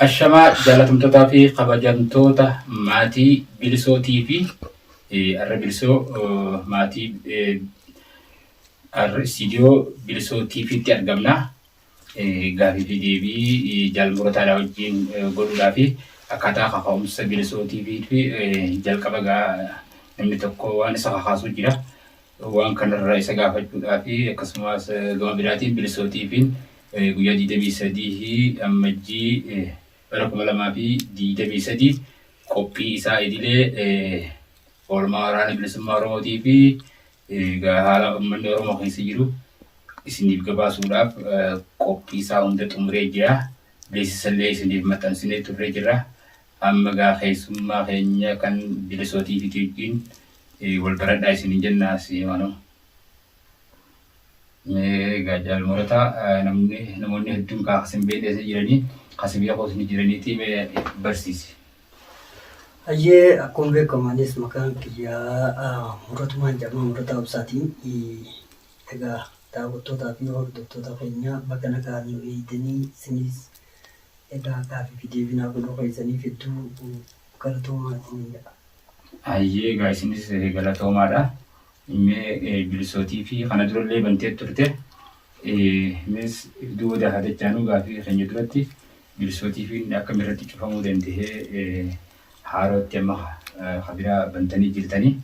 Ashamaa jaalatamtootaa fi kabajamtoota maatii bilisoo TV arra bilisoo maatii arra istiidiyoo bilisoo TVtti argamna. Gaafii fi deebii jaalmurataa dhaa wajjin godhuudhaa fi akkaataa kaka'umsa bilisoo TV fi jalqaba gaa namni tokko waan isa kakaasuu jira. Waan kana irraa isa gaafachuudhaaf akkasumaas gama biraatiin bilisootiifiin guyyaa 23 Ammajjii bara 2023 qophii isaa idilee oolmaa waraana bilisummaa Oromootii fi egaa haala ummanni Oromoo keessa jiru isiniif gabaasuudhaaf qophii isaa hunda xumuree jira. Beeksisallee isiniif maxxansinee turree jirra. Amma gaa keessummaa keenya kan Bilisoo TV wajjin wal baradhaa isiniin jenna asii maaloo. Mee gaa jaal murataa namni namoonni hedduun kaa kasin beekne isa jiranii kasi beekuus ni jiraniitii mee barsiisi. Hayyee akkuma beekamu anis maqaan kiyyaa muratumaan jedhama murataa obsaati. Egaa daawwattootaa fi hordoftoota keenya baga nagaan nu eegdanii isinis Edaa gaaffifi deebii naa godhuu keessaniif hedduu galatoomaa isiniin jedha. Hayyee egaa isinis galatoomaadha. Mee bilisoo TV kana durallee bantee turte. Mees duuda haa dachaanuu gaaffii keenya duratti bilisoo TV akkam irratti cufamuu danda'ee haarootti amma ka biraa bantanii jirtanii.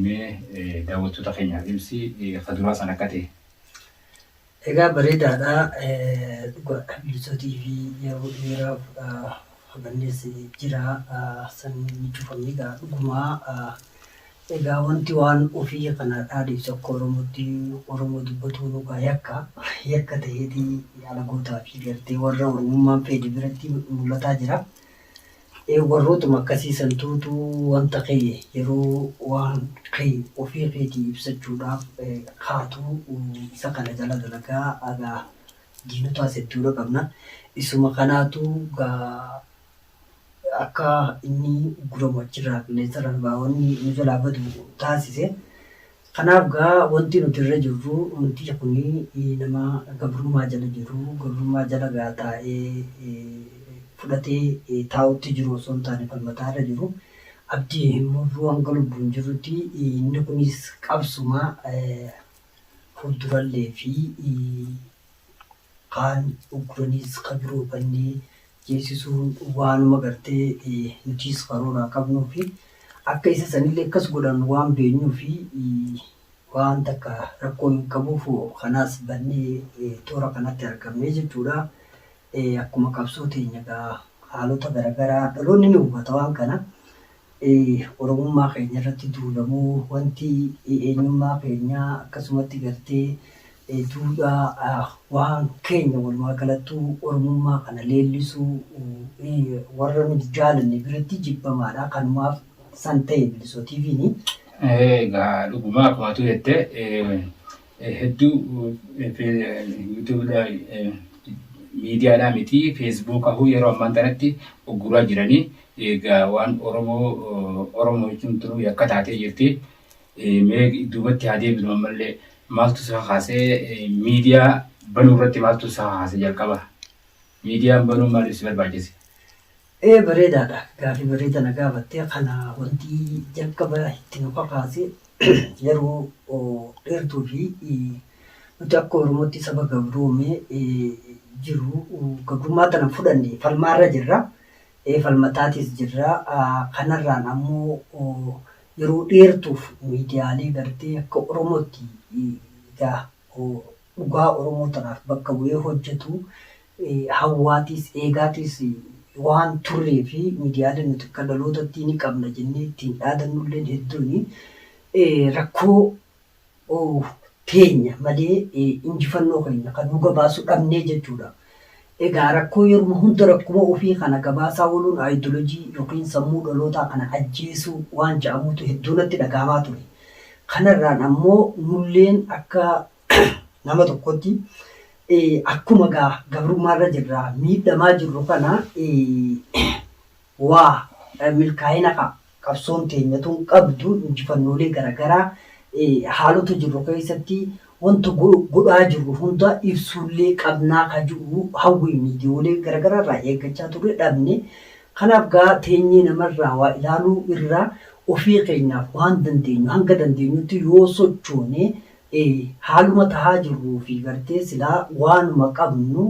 Mee daawwattoota keenyaaf ibsi ka duraa san akka ta'e. Egaa bareedaadha dhugaadha bilisotii fi yeroo dheeraaf habannees jira san ni cufamne egaa dhugumaa egaa wanti waan ofii kana dhaadhiif tokko oromootti oromoo dubbatuun egaa yakka yakka ta'eeti alagootaa fi gartee warra oromummaan feede biratti mul'ataa jira. Ee warrootuma akkasii santuutu wanta kee yeroo waan kee ofii keetii ibsachuudhaaf kaatu isa kana jala dalagaa egaa diinotaas hedduudha qabna isuma kanaatu egaa akka inni ugguramu achirraa qilleensarra nu ba'a wanni nu jalaa badu taasise Kanaaf gaa wanti nuti irra jirru umticha kuni nama gabrummaa jala jiru gabrummaa jala gaa taa'ee fudhatee taa'utti jiru osoo hin taane falmataa irra jiru abdii hin murru hanga lubbuun jirrutti inni kunis qabsuma fuuldurallee fi kaan ugguraniis ka biroo bannee jeesisuun waanuma gartee nutiis karooraa qabnuufi akka isa sanillee akkas godhan waan beenyuufi waan takka rakkoo hin qabuuf kanaas bannee toora kanatti argamne jechuudha. Akkuma qabsoo teenya egaa haalota garagaraa dhaloonni ni hubata waan kana. Oromummaa keenya irratti duulamuu wanti eenyummaa keenyaa akkasumatti gartee e Duudhaa waan keenya walumaa galattuu Oromummaa kana leellisuu e warra nu hin jaalanne biratti jibbamaadha kanumaaf san ta'e Bilisoo TVn. Egaa dhugumaa akkuma atuu jette hedduu yuutuubiidhaan miidiyaadhaan miti feesbuukahuu yeroo ammaan tanatti ugguraa jiranii egaa waan oromoo oromoo jechuun tunuu yakka taatee jirti mee duubatti haa deebinu ammallee Maaltu si kakaase miidiyaa banuu irratti maaltu si kakaase jalqaba? Miidiyaan banuun maaliif si barbaachise? Ee bareedaadha gaafii bareeda na gaafatte kana wanti jalqaba itti nu kakaase yeroo dheertuu fi nuti akka oromootti saba gabroome jiru gabrummaa tana fudhanne falmaarra jirra falmataatis jirra kanarraan ammoo yeroo dheertuuf miidiyaalee gartee akka Oromootti egaa dhugaa Oromoo tanaaf bakka bu'ee hojjatu hawwaatiis eegaatiis waan turree fi miidiyaalee nuti akka dhalootattii ni qabna jennee ittiin dhaadannulleen hedduuni rakkoo teenya malee injifannoo keenya ka nuu gabaasu dhabnee jechuudha. Egaa rakkoo yeruma hunda rakkuma ofii kana gabaasaa ooluun aayidolojii yookiin sammuu dhalootaa kana ajjeesuu waan ja'amuutu hedduu natti dhaga'amaa ture. Kanarraan ammoo nulleen akka nama tokkootti akkuma egaa gabrummaarra jirra miidhamaa jirru kana waa milkaa'ina ka. Qabsoon teenya tun qabdu injifannoolee garagaraa haalota jirru keessatti wanta godhaa jirru hunda ibsuullee qabnaa ka ji'u hawwii miidiyoolee garagaraa irraa eeggachaa turre dhabne. Kanaaf gaa teenyee nama irraa waa ilaaluu irra ofii keenyaaf waan dandeenyu hanga dandeenyutti yoo sochoone haaluma tahaa jirruu fi gartee silaa waanuma qabnu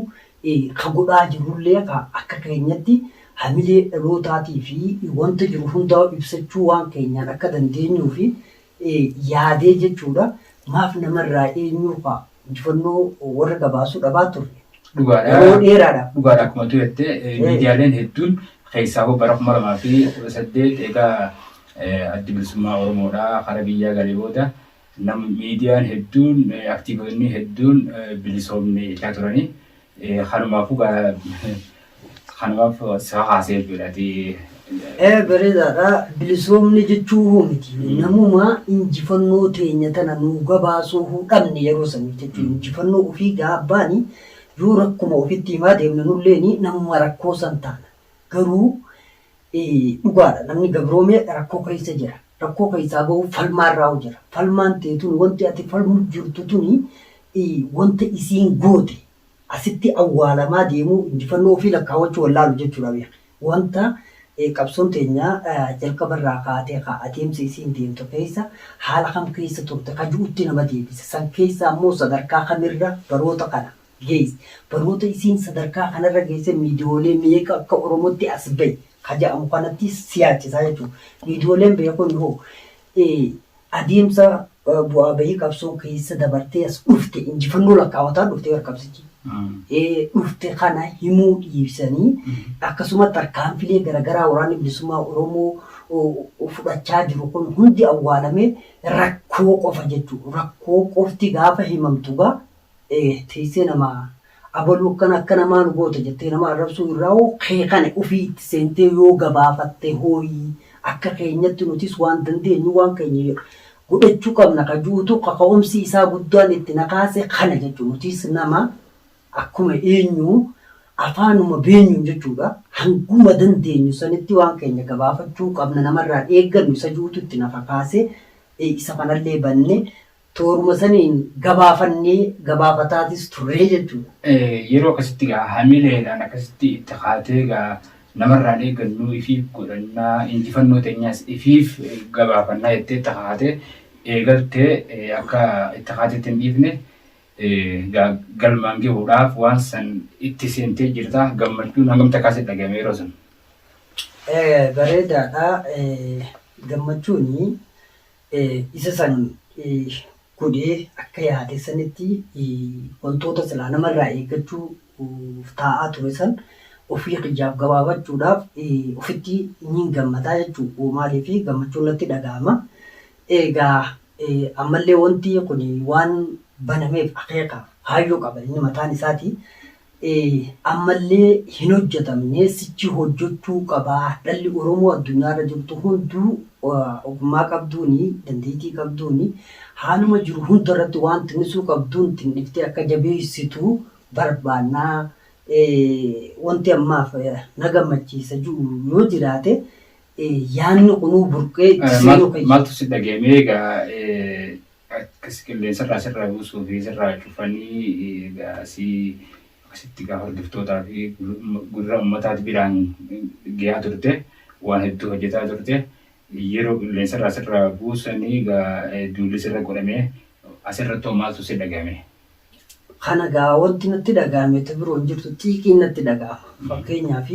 ka godhaa jirrullee ka akka keenyatti hamilee dhalootaatii fi wanta jiru hundaa'u ibsachuu waan keenyaan akka dandeenyuufi yaadee jechuu dha. Maaf nama irraa eenyuu ka injifannoo warra gabaasuu dhabaa turre? Dhugaa dha. Yeroo dheeraa dha. Dhugaa dha akkuma ati jette miidiyaaleen hedduun keessaahuu bara 2018 eega Addi Bilisummaa Oromoo dhaa kara biyyaa galee booda nam miidiyaan hedduun aktiivotni hedduun bilisoomne jechaa turani. Kanumaafuu gaa kanumaaf si kakaase jechuudha ati Ee bareedaadha. Bilisoomne jechuu hoo miti. Namuma injifannoo teenya tana nuu gabaasuu huu dhabne yeroo sanii jechuudha. Injifannoo ofii gaabbaani yoo rakkuma ofitti himaa deemne nulleeni namuma rakkoo san taana. Garuu Dhugaadha namni gabroomee rakkoo keessa jira. Rakkoo keessaa bahuuf falmaa irraa jira. Falmaan tee tuni wanti ati falmuuf jirtu tuni wanta isiin goote asitti awwaalamaa deemuu injifannoo ofii lakkaawwachuu wallaalu jechuudha beeki. Wanta qabsoon teenya jalqaba irraa kaatee ka adeemsa isiin deemtu keessa haala kam keessa turte ka ji'utti nama deebisa. San keessa ammoo sadarkaa kamirra baroota kana Guys baroota isiin sadarkaa kanarra geesse miidiyoolee meeqa akka oromotti as bahe ka ja'amu kanatti si yaachisaa jechuudha. Miidiyooleen bahe kun hoo adeemsa bu'aa bahii qabsoo keessa dabartee as dhufte injifannoo lakkaa'ataa dhufte bar qabsichi. dhufte kana himuu dhiisanii akkasuma tarkaanfilee garagaraa waraanni bilisummaa oromoo fudhachaa jiru kun hundi awwaalamee rakkoo qofa jechuudha. Rakkoo qofti gaafa himamtu gaa ee teessee namaa abaluu akkana akka namaa nu goota jettee nama arrabsuu irraa hoo kee kana ufii itti seentee yoo gabaafatte hooyi akka keenyatti nutis waan dandeenyu waan keenya godhachuu qabna ka ju'utu kaka'umsi isaa guddaan itti na kaase kana jechuu nutis nama akkuma eenyuu afaanuma beenyuun jechuudha hanguma dandeenyu sanitti waan keenya gabaafachuu qabna namarraan eeggannu isa ju'utu itti na kakaase ee isa kanallee banne Tooruma saniin gabaafannee, gabaafataatis turree jechuudha. Yeroo akkasitti egaa hamileedhaan akkasitti itti kaatee egaa namarraan eeggannu ifiif godhanna, injifannoo teenyas ifiif gabaafanna jettee itti kakaatee eegalte akka itti kaatetti hin dhiifne egaa galmaan gahuudhaaf waan san itti seentee jirta. Gammachuun hangam takkaa sitti dhagahame yeroo san? Bareedaadha. Gammachuun isa san godhee akka yaade sanitti wantoota silaa namarraa eeggachuuf taa'aa ture san ofii kiyyaaf gabaabachuudhaaf ofitti niin gammadaa jechuudha. Maaliif gammachuun natti dhaga'ama. Egaa ammallee wanti kun waan banameef akeeka kaayyoo qaba inni mataan isaatii. ammallee hin hojjatamne sichi hojjachuu qaba dhalli oromoo addunyaa irra jirtu hunduu ogummaa qabduun dandeetii qabduun haaluma jiru hunda irratti waan tinnisuu qabduun tinniftee akka jabeessitu barbaanna wanti ammaaf na gammachiisa ji'u yoo jiraate yaanni kunuu burqee itti seenuu kiyya. Maaltu si dhaga'e mee egaa Akkas qilleensa irraa sirraa buusuu fi sirraa cufanii egaa si akkasitti egaa hordoftootaa fi gurra ummataati biraan geyaa turte waan hedduu hojjetaa turte yeroo qilleensa irraa sirraa buusanii egaa duulli sirra godhamee asirratti hoo maaltu si dhagahame Kana egaa wanti natti dhaga'ame ta biroo hin jirtu xiiqiin natti dhaga'ama. Fakkeenyaaf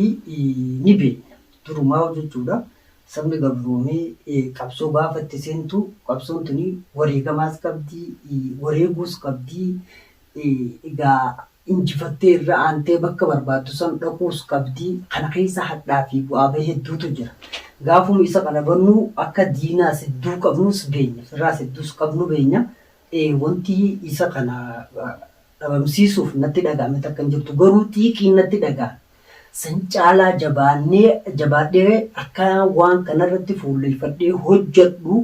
ni beekna durumaa'uu jechuudha sabni gabroomee qabsoo gaafa itti seentu qabsoon tuni wareegamaas qabdi, wareeguus qabdi, egaa injifattee irra aantee bakka barbaaddu san dhaquus qabdi. Kana keessa hadhaa fi bu'aa bahii hedduutu jira. Gaafuma isa qalabannu akka diinaas hedduu qabnus beenya, firaas hedduus qabnu beenya. ee wanti isa kana dhabamsiisuuf natti dhaga'ame takka hin jirtu garuu xiiqiin natti dhaga'ame san caalaa jabaannee jabaadhee akka waan kanarratti fuulleffadhee hojjadhu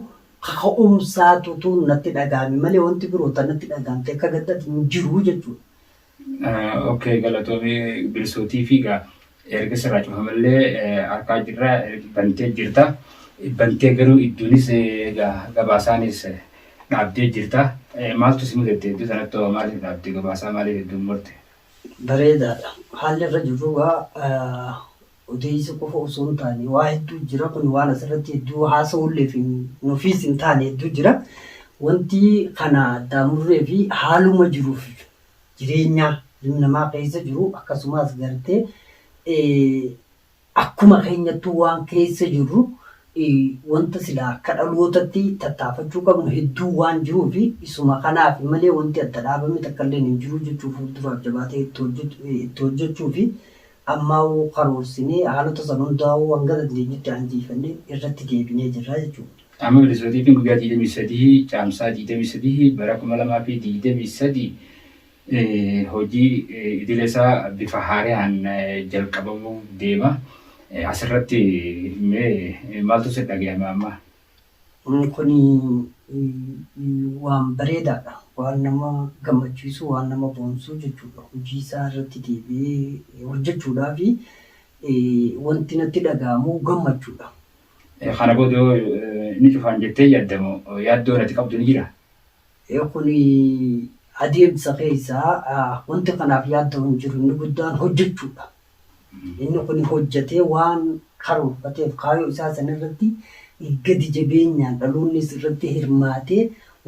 kaka'umsaatutu natti dhaga'ame malee wanti biroo ta natti dhaga'amte akka gaddaati hin jiru jechuudha Ok galatomi bilso tv ga erga sirraa cufamelle arkaa jirra bantee jirta bantee garuu iddunis ga gabaasaanis dhaabdee jirta maaltu si mudate iddoo sanatto maaliif dhaabde gabaasaa maaliif idduun murte. Bareedaadha. Haalli irra jirru egaa odeessuu qofa osoo hin taane waa hedduu jira. Kun waan asirratti hedduu haasa'uulleef nufiis hin taane hedduu jira. Wanti kana addaan murree fi haaluma jiruuf jireenyaa ilmi namaa keessa jiru akkasumaas garte akkuma keenyattuu waan keessa jirru wanta silaa akka dhalootatti tattaafachuu qabnu hedduu waan jiruu fi isuma kanaaf malee wanti adda dhaabame takkalleen hin jiru jechuu fuulduraaf jabaatee itti hojjechuu fi Ammaawuu karoorsinee haalota san hundaa'uu hanga dandeenyutti anjiifannee irratti deebinee jirra jechuudha. Qaamni Milisootiitiin guyyaa 23 Caamsaa 23 bara 2023 hojii idilee isaa bifa haarayaan jalqabamuuf deema. Asirratti mee maaltu sitti dhagayama amma? Kuni waan bareedaadha. Waan nama gammachiisu, waan nama boonsu jechuudha. Hojii isaa irratti deebi'ee hojjechuudhaaf wanti natti dhaga'amu gammachuudha. Kana booda hoo ni cufaan jettee yaadda moo yaaddoon ati qabdu ni jira? Kuni adeemsa keessa wanti kanaaf yaadda'u hin jiru. Inni guddaan hojjechuudha. Inni kun hojjetee waan karoorfateef kaayoo isaa sana irratti gadi jabeenyaan dhaloonnis irratti hirmaatee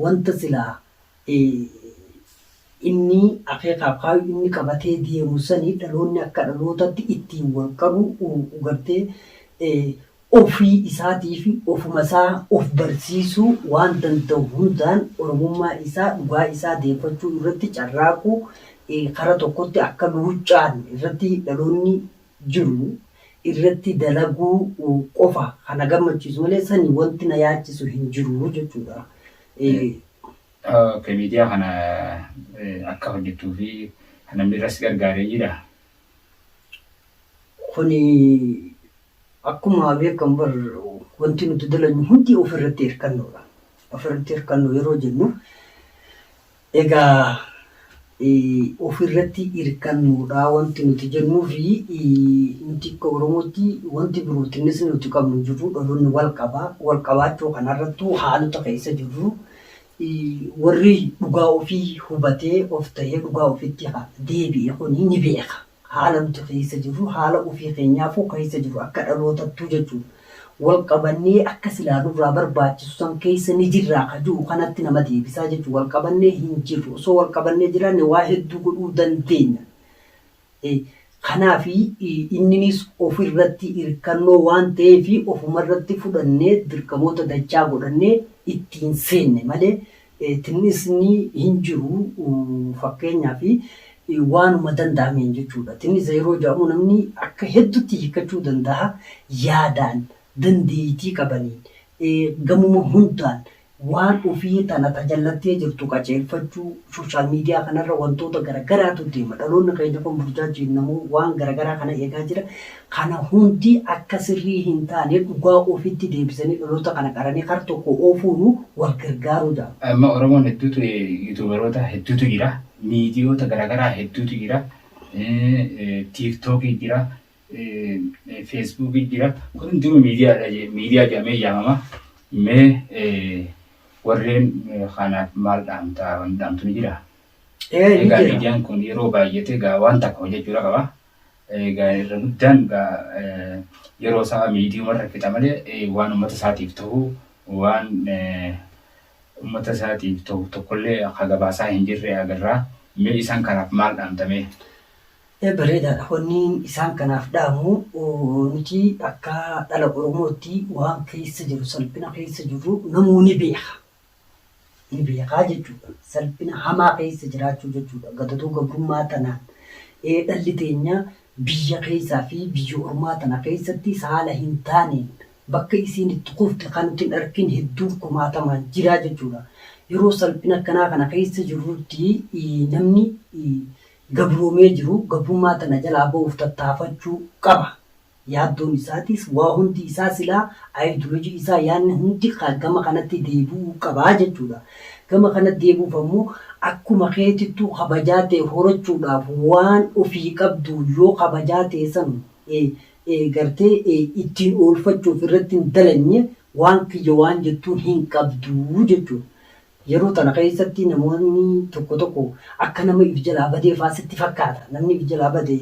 wanta silaa inni akeekaaf kaayoo inni qabatee deemu sani dhaloonni akka dhalootatti ittiin wal qabu gartee Ofii isaatiifi ofuma isaa of barsiisuu waan danda'u hundaan Oromummaa isaa dhugaa isaa deeffachuu irratti carraaqu kara tokkotti akka luuccaan irratti dhaloonni jiru irratti dalaguu qofa kan na gammachiisu malee sani wanti na yaachisu hin jiru jechuudha. Ok miidiyaa kana akka hojjettuu fi namni irra si gargaare jiraa? Kuni Akkuma beekamu bar wanti nuti dalagnu hundi of irratti hirkannoodha. Of irratti hirkannoo yeroo jennu egaa of irratti hirkannoodha wanti nuti jennuu fi nuti akka Oromootti wanti birootiinis nuti qabnu hin jiru dhaloonni wal qaba. Wal qabaachuu kanarrattuu haalota keessa jirru warri dhugaa ofii hubatee of tahee dhugaa ofitti deebi'e kuni ni beeka. haala nuti keessa jirru, haala ofii keenyaafuu keessa jirru akka dhalootattuu jechuudha. Wal qabannee akka silaa nurraa barbaachisu san keessa ni jirraa ka jiru kanatti nama deebisaa jechuudha. Wal qabannee hin jirru. Osoo wal qabannee jiraanne waa hedduu godhuu dandeenya. Kanaafi inninis ofirratti irkannoo waan ta'eef ofumarratti fudhannee dirqamoota dachaa godhannee ittiin seenne malee Tinnisni hin jiru fakkeenyaaf waanuma danda'ameen jechuudha. Tinnisa yeroo jedhamu namni akka hedduutti hiikkachuu danda'a. Yaadaan, dandeettii qabaniin, gamuma hundaan waan ofii tana ta jallattee jirtu qaceelfachuu, social media kanarra wantoota garagaraatu deema. Dhaloonni keenya kun burjaajiin namuu waan garagaraa kana eegaa jira. Kana hundi akka sirrii hin taane dhugaa ofitti deebisanii dhaloota kana qaranii kar tokko oofuunu wal gargaaruu jedhama. Amma Oromoon hedduutu Yuutuubaroota hedduutu jira. Miidiyoota garaagaraa hedduutu jira. Tiiktookii jira. Feesbuukii jira. Kun hundinuu miidiyaadha je- miidiyaa jedhamee yaamama. Mee eh, warreen eh, kanaaf maal dhaamta? Wanni dhaamtu ni jira. Ee ni Egaa jira. miidiyaan kun yeroo baay'ate egaa waan takka hojjechuudha qaba. Egaa irra guddaan egaa yeroo isaa miidiiyuma irra fixa malee waan uummata isaatiif ta'u waan uummata isaatiif ta'u tokkollee akka gabaasaa hin jirre agarra. Mee isaan kanaaf maal dhaamta mee? Bareedaadha wanniin isaan kanaaf dhaamu nuti akka dhala Oromootti waan keessa jiru salphina keessa jirru namuu ni beeka. ni beekaa jechuudha. Salphina hamaa keessa jiraachuu jechuudha. Gatatuu gabrummaa tanaan dhalli teenya biyya keessaa fi biyya ormaa tana keessatti haala hin taaneen bakka isiin itti kufte kan nuti hin argin hedduun kumaatamaan jira jechuudha. Yeroo salphina akkanaa kana keessa jirrutti namni gabroomee jiru gabrummaa tana jalaa ba'uuf tattaafachuu qaba. Yaaddoon isaatis waa hundi isaa silaa ayidiloojii isaa yaadni hundi kaa gama kanatti deebi'uu qaba jechuudha. Gama kanatti deebi'uuf ammoo akkuma keetittuu kabajaa tee horachuudhaaf waan ofii qabdu yoo kabajaa tee san gartee ittiin oolfachuuf irratti hin dalagne waan kiyya waan jettuun hin qabdu jechuudha. Yeroo tana keessatti namoonni tokko tokko akka nama if jalaa badee faa sitti fakkaata. Namni if jalaa bade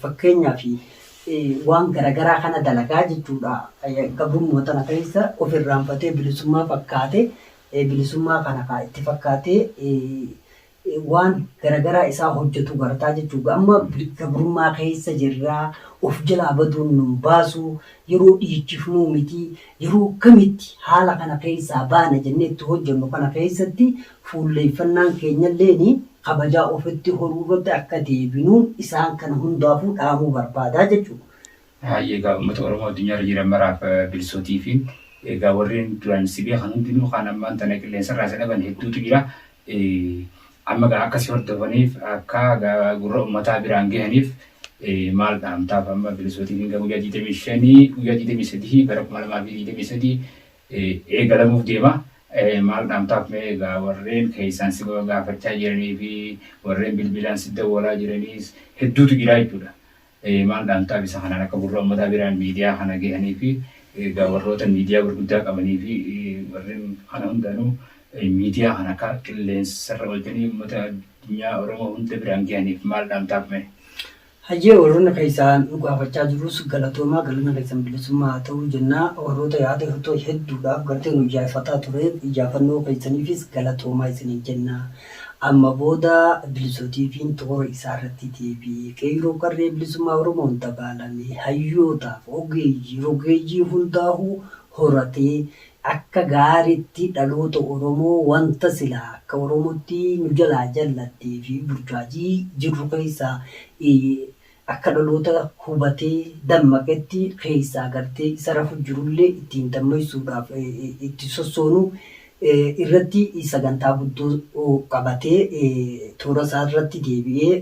fakkeenyaaf waan garagaraa kana dalagaa jechuudha. Gabrummaa tana keessa of irraanfatee bilisummaa fakkaate bilisummaa kana kaa itti fakkaatee waan garagaraa isaa hojjatu gartaa jechuudha. Amma gabrummaa keessa jirraa of jalaa baduun nun baasuu yeroo dhiichifnuu mitii yeroo akkamitti haala kana keessaa baana jennee itti hojjannu kana keessatti fuulleeffannaan keenyalleen kabajaa ofitti horuu irratti akka deebinuun isaan kana hundaafuu dhaamuu barbaadaa jechuudha. Hayyee egaa ummata Oromoo addunyaa irra jiran maraaf bilsootiifi egaa warreen duraan si beekan hundinuu kaan ammaan tana qilleensarraa isa dhaban hedduutu jira. Amma egaa akka si hordofaniif akka gurra ummataa biraan gahaniif maal dhaamtaaf amma bilisootiin hinga guyyaa 25 guyyaa 23 bara 2023 eegalamuuf deema maal dhaamtaaf mee egaa warreen keessaan si gaafachaa jiranii fi warreen bilbilaan si dawwalaa jiraniis hedduutu jiraa jechuudha. Ee maal dhaamtaa bisa kanaan akka gurra ummataa biraan miidiyaa kana gahanii fi egaa warroota miidiyaa gurguddaa qabanii fi warreen kana hundaanuu miidiyaa kana akka qilleensarra oolchanii ummata addunyaa Oromoo hunda biraan gahaniif maal dhaamtaaf mee? Hayyee warroonni keessaan nu gaafachaa jirus galatoomaa galanni keessan bilisummaa haa ta'uu jennaa warroota yaada hirtoo hedduudhaaf gartee nu ijaarfataa tureef ijaafannoo keessaniifis galatoomaa isiniin jennaa. Amma booda Bilisoo TV'n toora isaa irratti deebi'ee qeeyroo qarree bilisummaa Oromoon dabaalame hayyootaaf ogeeyyii rogeeyyii hundaahuu horatee akka gaaritti dhaloota Oromoo wanta silaa akka Oromotti nu jalaa jallattee fi burjaajii jirru keessaa Akka dhaloota hubatee dammaqetti keessaa gartee isa rafu jirullee ittiin dammaysuudhaaf itti sossoonu irratti sagantaa guddoo qabatee toora isaa irratti deebi'ee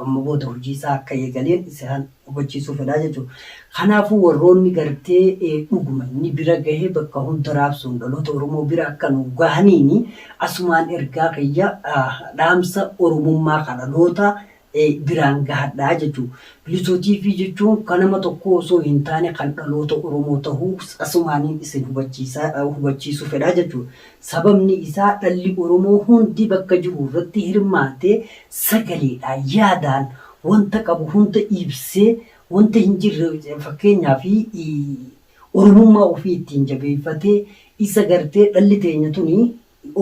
amma booda hojii isaa akka eegaleen isaan hubachiisuu fedha jechuudha. Kanaafuu warroonni gartee dhuguma inni bira gahe bakka hunda raabsuun dhaloota Oromoo bira akka nu gahaniin asumaan ergaa kiyya dhaamsa Oromummaa ka dhaloota biraan gahadhaa jechuu Bilisoo TV jechuun kan nama tokkoo osoo hin taane kan dhaloota Oromoo tahuu asumaanin isin hubachiisuu fedha jechuudha. Sababni isaa dhalli Oromoo hundi bakka jiru irratti hirmaatee sagaleedhaan, yaadaan wanta qabu hunda ibsee wanta hin jirre fakkeenyaaf Oromummaa ofii ittiin jabeeffatee isa gartee dhalli teenya tuni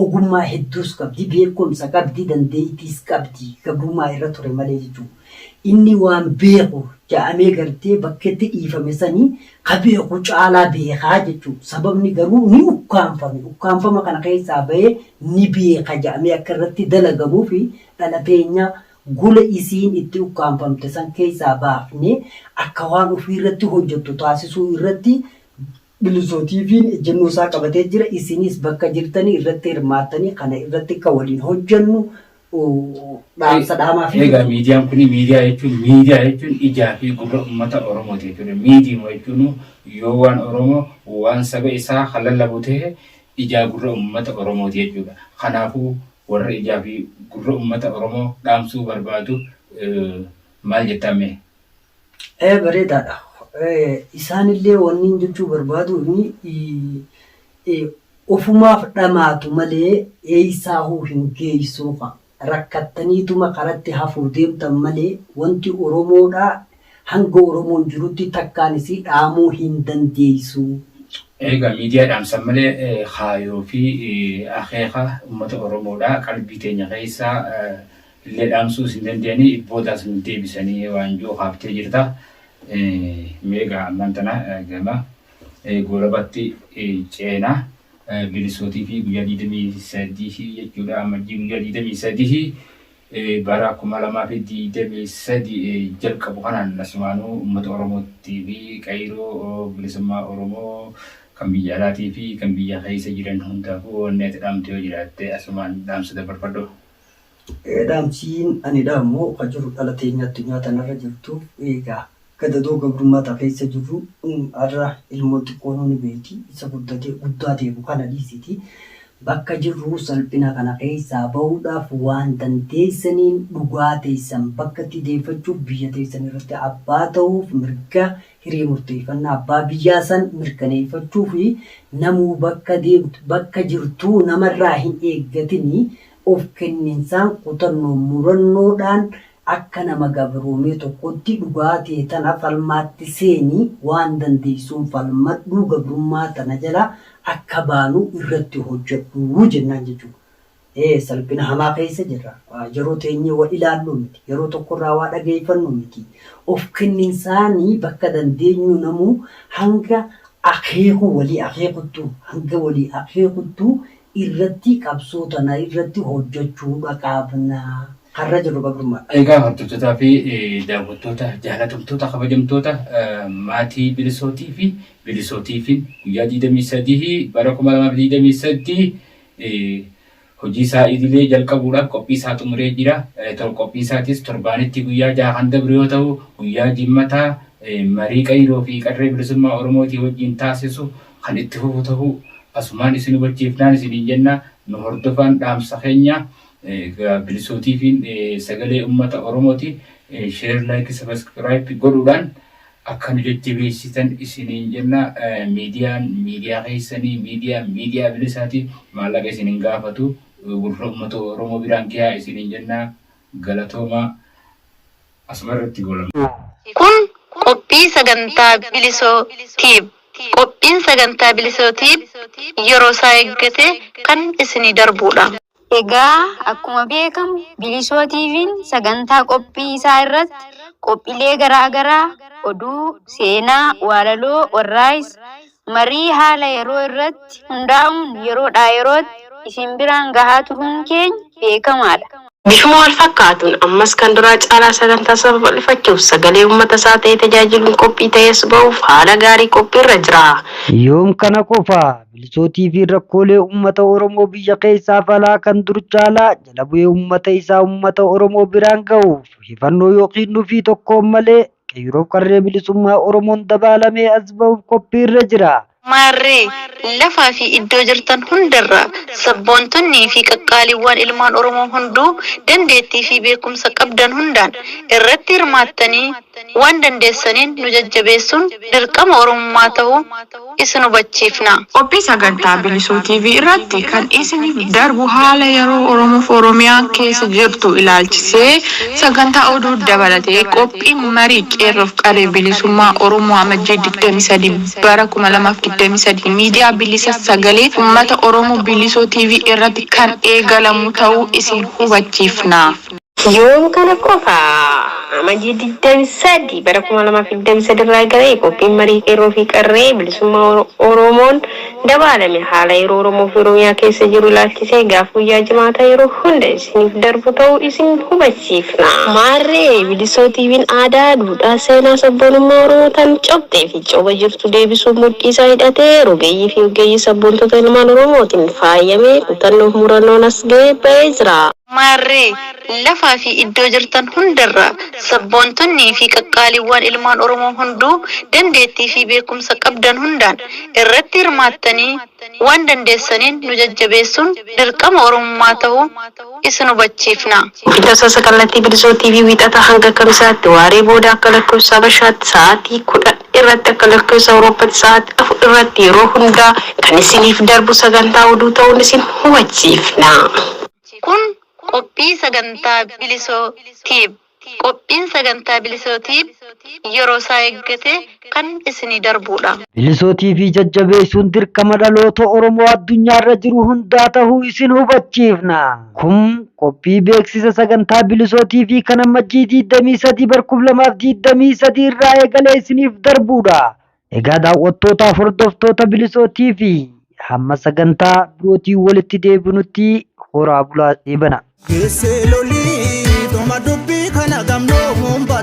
Ogummaa hedduus qabdi, beekumsa qabdi, dandeettiis qabdi. Gabrummaa irra ture malee jechuudha. Inni waan beeku ja'amee gartee bakkeetti dhiifame sani ka beeku caalaa beeka jechuudha. Sababni garuu ni ukkaamfame. Ukkaamfama kana keessaa bahee ni beeka ja'amee akka irratti dalagamuuf dhala teenya gola isiin itti ukkaamfamte san keessaa baafnee akka waan ofii irratti hojjattu taasisuu irratti Bilisoo TVn ejjennoo isaa qabatee jira. Isinis bakka jirtanii irratti hirmaattanii kana irratti akka waliin hojjennu dhaamsa dhaamaa fi Egaa miidiyaan kun miidiyaa jechuun miidiyaa jechuun ijaa fi gurra uummata Oromooti jechuudha. Miidiima jechuun yoo waan Oromoo waan saba isaa kan lallabu ta'e ijaa gurra uummata Oromooti jechuudha. Kanaafuu warra ijaa fi gurra uummata Oromoo dhaamsuu barbaadu maal jettaan mee? Ee bareedaadha. Isaanillee wanniin jechuu barbaaduuni ufumaaf dhamaatu malee eeysaahuu hin geeysuu kaa. Rakkattaniituma karatti hafuuf deemtan malee wanti Oromoodhaa hanga Oromoon jirutti takkaan isii dhaamuu hin dandeeysuu. Eegaa miidiyaa dhaamsan malee kaayoo fi akeeka ummata Oromoodhaa qalbii teenya keeysaa illee dhaamsuus hin dandeenye ibbootaas nu deebisanii waanjoo kaaftee jirta meegaa ammaan tana gama goolabatti ceenaa bilisootii fi guyyaa 23 jechuudha ammajjii guyyaa 23 bara 2023 jalqabu kanaan asumaanuu uummata oromootti fi qayroo bilisummaa oromoo kan biyya alaatii fi kan biyya keessa jiran hundaafuu wanni ati dhaamtu yoo jiraatte asumaan dhaamsa dabarfadhu. Dhaamsiin ani dhaamu ka jiru dhala teenya addunyaa tanarra jirtu eega gadadoo gabrummaa ta keessa jirru har'a ilmoon xiqqoonuu ni beeyti isa guddatee guddaa deemu kana dhiisiti bakka jirru salphina kana keessaa bahuudhaaf waan dandeeysaniin dhugaa teeysan bakkatti deeyfachuuf biyya teeysan irratti abbaa tahuuf mirga hiree murteeffannaa abbaa biyyaa san mirkaneeyfachuu fi namuu bakka deemtu, bakka jirtuu nama irraa hin eeggatini, of kenninsaan, kutannoon, murannoo dhaan akka nama gabroomee tokkootti dhugaa tee tana falmaatti seeni, waan dandeeysuun falmadhuu gabrummaa tana jalaa akka baanu irratti hojjadhu jennaan jechuudha. Ee, salphina hamaa keessa jirra. Yeroo teenyee wal ilaalluu miti. Yeroo tokko irraa waa dhageeffannuu miti. Of kenninsaan bakka dandeenyuu namuu hanga akeekuu walii akeekuttuu, hanga walii akeekuttuu irratti qabsoo tana irratti hojjachuudha qabna. Kan irra jirru gabrummaadha. Egaa hordoftotaa fi daawwattoota jaalatamtoota kabajamtoota maatii bilisootii fi bilisootiifiin guyyaa 23 bara 2023 hojii isaa idilee jalqabuudhaaf qophii isaa xumuree jira. Qophii isaatis torbaanitti guyyaa jaha kan dabru yoo ta'u, guyyaa Jimmataa marii Qeyroo fi Qarree Bilisummaa Oromootii wajjin taasisu kan itti fufu ta'u asumaan isin hubachiifnaan isiniin jenna. Nu hordofaan dhaamsa keenya Bilisootiifiin sagalee ummata Oromooti. Share, like, subscribe godhuudhaan Akka nu jajjabeessitan isiniin jenna. Miidiyaan miidiyaa keessani. Miidiyaan miidiyaa bilisaati. Maallaqa isin hin gaafatu. Gurra ummata Oromoo biraan gahaa isiniin jenna. Galatoomaa. Asumarratti goolabna. Kun qophii sagantaa Bilisoo Tube. Qophiin sagantaa Bilisoo Tube yeroosaa eeggatee kan isinii darbuudha. Egaa akkuma beekamu Bilisoo TVn sagantaa qophii isaa irratti qophilee garaa garaa, oduu, seenaa, waalaloo, warraais, marii haala yeroo irratti hundaa'uun yeroodhaa yerootti isin biraan gahaa turuun keenya beekamaadha. Bifuma wal fakkaatuun ammas kan duraa caalaa sagantaa isaa babal'ifachuuf sagalee uummata isaa ta'ee tajaajiluun qophii ta'ees ba'uuf haala gaarii qophii irra jira. Yoom kana qofaa? Milisootii fi rakkoolee uummata Oromoo biyya keessaaf alaa kan dur caalaa jala bu'ee uummata isaa uummata Oromoo biraan gahuuf hifannoo yookiin nufii tokkoon malee qeeyroof qarree bilisummaa Oromoon dabaalamee as bahuuf qophii irra jira. Maarree, lafaa fi iddoo jirtan hundarraa sabboontonnii fi qaqqaaliiwwaan ilmaan Oromoo hunduu dandeettii fi beekumsa qabdan hundaan irratti hirmaattanii waan dandeessaniin nu jajjabeessuun dirqama Oromummaa tahuu isin hubachiifna. Qophii sagantaa Bilisuu TV irratti kan isiniif darbu haala yeroo Oromoof Oromiyaan keessa jirtu ilaalchisee sagantaa oduu dabalatee qophiin marii Qeerroof Qarree Bilisummaa Oromoo Amajjii 23 bara 2023 miidiyaa bilisa sagalee ummata Oromoo Bilisuu TV irratti kan eegalamu ta'uu isin hubachiifna. Yoom kana qofa? Amajjii 23 bara 2023 irraa eegalee qophiin marii qeerroo fi qarree bilisummaa Oromoon dabaalame haala yeroo Oromoo fi Oromiyaa keessa jiru ilaalchisee gaaf guyyaa Jimaataa yeroo hunda isiniif darbu ta'uu isin hubachiifna. Maarree Bilisoo TVn aadaa, duudhaa, seenaa, sabboonummaa Oromoo tan cobxee fi coba jirtu deebisuuf mudhii isaa hidhatee rogeeyyii fi oggeeyyii sabboontota ilmaan Oromootiin faayamee kutannoo fi murannoon as gahee ba'ee jira. Maarree, lafaa fi iddoo jirtan hundarraa sabboontonnii fi qaqqaaliiwwaan ilmaan Oromoo hunduu dandeettii fi beekumsa qabdan hundaan irratti hirmaattanii waan dandeessaniin nu jajjabeessuun dirqama Oromummaa tahuu isin hubachiifna. Guyyi Tasaasa Kallattii Bilisoo TV Wiixata hanga Kamisaatti waaree booda akka lakkofsa Habashaatti sa'aatii 10:00. irratti akka lakkoofsa Awurooppatti sa'aatii afur irratti yeroo hundaa kan isiniif darbu sagantaa oduu ta'uun isin hubachiifna. Kun qophii sagantaa Bilisoo Tube. Qophiin sagantaa Bilisoo Tube yeroo isaa eeggatee kan isinii darbuudha. Bilisoo TV jajjabeessuun dirqama dhaloota Oromoo addunyaarra jiru hundaa ta'uu isin hubachiifna. Kun qophii beeksisa sagantaa Bilisoo TV kan ammajjii 23 bar 2023 irraa eegalee isiniif darbuudha. Egaa daawwattootaaf hordoftoota Bilisoo TV hamma sagantaa birootiin walitti deebinutti horaa bulaa eebana. Keessee lolii dhuma dubbii kana gamnoo muumba